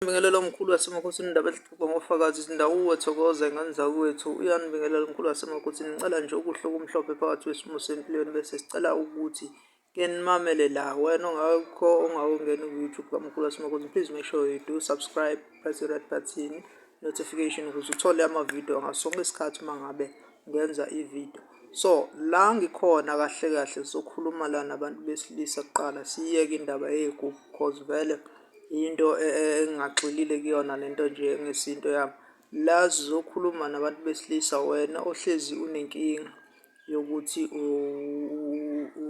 Nibingelela mkhulu wasemakhothini indaba ezixoxwa ngofakazi izindawuwe thokoza ingane zakwethu uyanibingelela mkhulu wasemakhothini ngicela nje ukuhle okumhlophe phakathi wesimo sempilweni bese sicela ukuthi ke nimamele la wena ongakho ongawungeni ku-youtube kamkhulu wasemakhothini please make sure you do subscribe press the red button notification ukuze uthole amavidiyo ngasonke isikhathi uma ngabe ngenza ividiyo so la ngikhona kahle kahle sokhuluma la nabantu besilisa kuqala siyeke indaba yey'gubhu cause vele into e, e, engingagxilile kuyona lento nje ngesinto yami la sizokhuluma nabantu besilisa wena ohlezi unenkinga yokuthi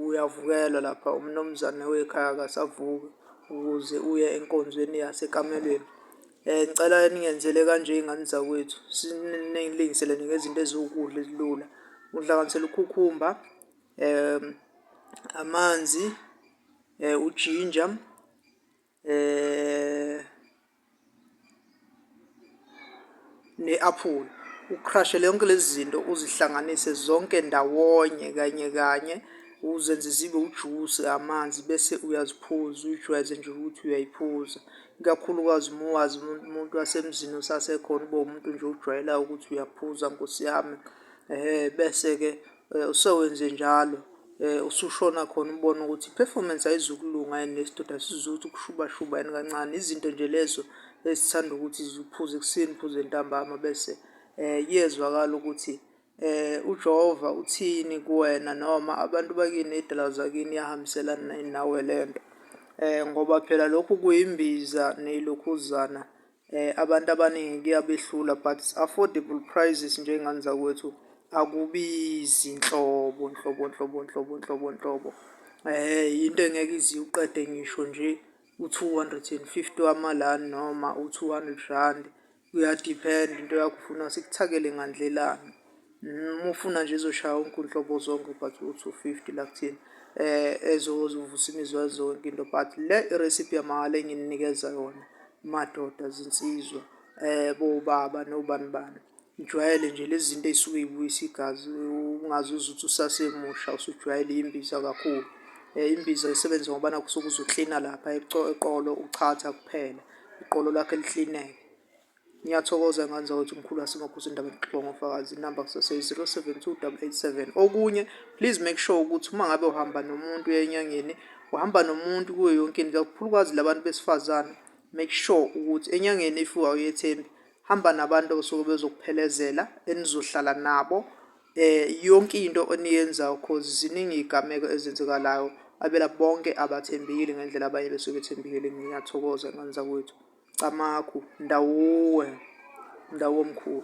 uyavukelwa lapha umnumzane wekhaya akasavuki ukuze uye enkonzweni yasekamelweni Eh cela ningenzele kanje izingane zakwethu siningilingiseleni ngezinto eziwukudla ezilula. Uhlanganisela ukhukhumba um amanzi um ujinja um ne-aphula. Ukrashele yonke lezi zinto uzihlanganise zonke ndawonye kanye kanye uzenze zibe ujusi amanzi bese uyaziphuza uyijwayeze nje ukuthi uyayiphuza ikakhulukazi uma wazi umuntu wasemzini osasekhona ube umuntu nje ujwayelayo ukuthi uyaphuza nkosi yami um bese-ke eh, usewenze njalo eh, usushona khona ubona ukuthi i-performance ayizukulunga yini lesidoda sizuthi ukushubashuba yini kancane izinto nje lezo ezithanda ukuthi ziphuze ekuseni phuze ntambama bese eh iyezwakala ukuthi eh uJehova uthini kuwena noma abantu bakini idala zakini yahambiselana nawe lento eh ngoba phela lokhu kuyimbiza neyilokhuzana eh abantu abaningi kuyabehlula but affordable prices nje ingane zakwethu akubizi nhlobo nhlobo nhlobo nhlobo nhlobo nhlobo eh into engeke iziqede ngisho nje u250 wamalani noma u200 rand kuyadiphenda into yakho ufuna sikuthakele ngandlelani uma ufuna nje ezoshaya wonke unhlobo zonke but u-two fifty la kuthina um ezovusa imizwa zonke into but le irecipe yamahhala engininikeza yona madoda zinsizwa um bobaba nobani bani ngijwayele nje lezi zinto ey'suke y'buyisa igazi ungazi uze uthi usasemusha usujwayele imbiza kakhulu um imbiza isebenza ngobana kusuke uzoklina lapha eqolo uchatha kuphela iqolo lakho liklineke Ngiyathokoza ngani zakwethu mkhulu asingaphose indaba yokuxoxa ngofakazi inamba kusaseyi 072887 okunye please make sure ukuthi uma ngabe uhamba nomuntu enyangeni uhamba nomuntu kuyo yonke into kakhulukazi labantu besifazane make sure ukuthi enyangeni if awuyethembi hamba nabantu abasuke bezokuphelezela enizohlala nabo eh yonke into oniyenzayo cause ziningi izigameko ezenzekalayo abela bonke abathembekile ngendlela abanye besuke bethembekile ngiyathokoza ngani zakwethu Camagu, Ndawuwe, Ndawuwe mkhulu.